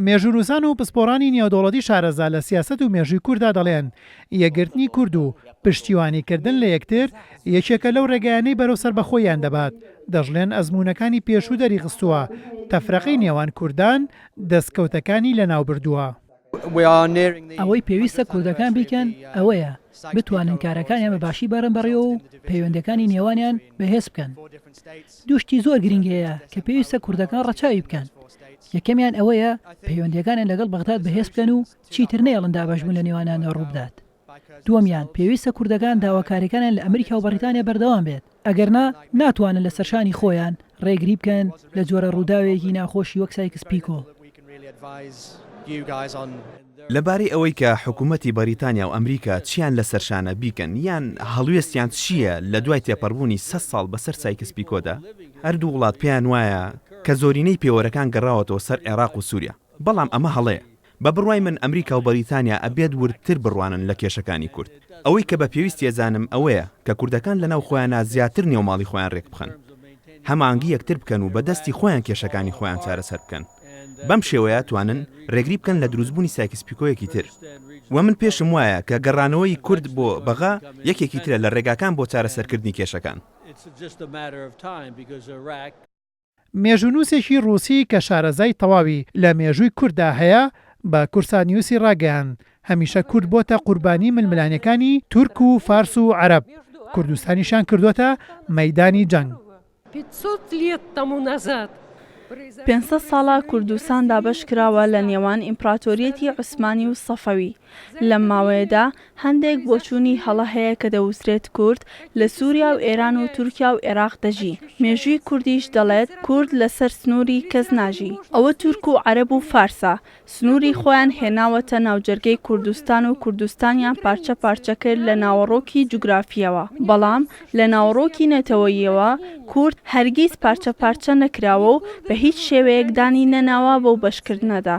مێژوونووسان و پسپۆڕانی نێودەوڵەتی شارەزا لە سیاسەت و مێژووی کورددا دەڵێن، یەکگرتنی کورد و پشتیوانیکردن لە یەکتر یەکێکە لەو ڕێگایانەی بەرەو سەربەخۆییان دەبات، دەشڵێن ئەزموونەکانی پێشوو دەریخستووە تەفرەقەی نێوان کوردان دەستکەوتەکانی لەناوبردووە. ئەوەی پێویستە کوردەکان بیکەن ئەوەیە بتوانن کارەکانیان بە باشی بەرن بەڕێوە و پەیوەندیەکانی نێوانیان بەهێز بکەن. دوو شتی زۆر گرنگ هەیە کە پێویستە کوردەکان ڕەچاوی بکەن، یەکەمیان ئەوەیە پەیوەندیەکانیان لەگەڵ بەغداد بەهێز بکەن و چیتر نەیەڵن دابەشبوون لە نێوانیاندا ڕووبدات. دووەمیان، پێویستە کوردەکان داواکاریەکانیان لە ئەمریکا و بەڕیتانیا بەردەوام بێت، ئەگەرنا ناتوانن لە سەرشانی خۆیان ڕێگری بکەن لە جۆرە ڕووداوێکی ناخۆشی وەک سایکس پیکۆ. لەبارەی ئەوەی کە حکومەتی بەریتانیا و ئەمریکا چیان لە سەرشانە بیکەن یان هەڵوێستیان چییە لە دوای تێپەڕبوونی سەد ساڵ بەسەر سایکس پیکۆدا، هەردوو وڵات پێیان وایە کە زۆرینەی پێوەرەکان گەڕاوەتەوە سەر عێراق و سوریا، بەڵام ئەمە هەڵەیە، بە بڕوای من ئەمریکا و بەریتانیا ئەبێت وردتر بڕوانن لە کێشەکانی کورد. ئەوەی کە بە پێویستی ئەزانم ئەوەیە کە کوردەکان لەناو خۆیانا زیاتر نێو ماڵی خۆیان رێک بخەن. هەماهەنگی یەکتر بکەن و بە دەستی خۆیان کێشەکانی خۆیان چارەسەر بکەن. بەم شێوەیە توانن رێگری بکەن لە دروست بوونی سایکس پیکۆیەکی تر. وە من پێشم وایە کە گەڕانەوەی کورد بۆ بەغا یەکێکی ترە لە رێگاکان بۆ چارەسەرکردنی کێشەکان. مێژوونووسێکی ڕووسی کە شارەزای تەواوی لە مێژووی کورددا هەیە بە کورسانیوسی ڕاگەیاند، هەمیشە کورد بۆتە قوربانی ململانێکانی تورک و فارس و عەرەب، کوردستانیشیان کردۆتە مەیدانی جەنگ. پێنج سەد ساڵە کوردستان دابەش کراوە لە نێوان ئیمپڕاتۆریەتی عوسمانی و سەفەوی، لەم ماوەیەدا هەندێک بۆچوونی هەڵە هەیە کە دەوترێت کورد لە سووریا و ئێران و تورکیا و ئێراق دەژی، مێژووی کوردیش دەڵێت کورد لەسەر سنووری کەس ناژی، ئەوە تورک و عەرەب و فارسە سنووری خۆیان هێناوەتە ناوجەرگەی کوردستان و کوردستانیان پارچە پارچە کرد لە ناوەڕۆکی جوگرافییەوە، بەڵام لە ناوەڕۆکی نەتەوەییەوە کورد هەرگیز پارچە پارچە نەکراوە و بە هیچ شێوەیەک دانی نەناوە بەو بەشکردنەدا.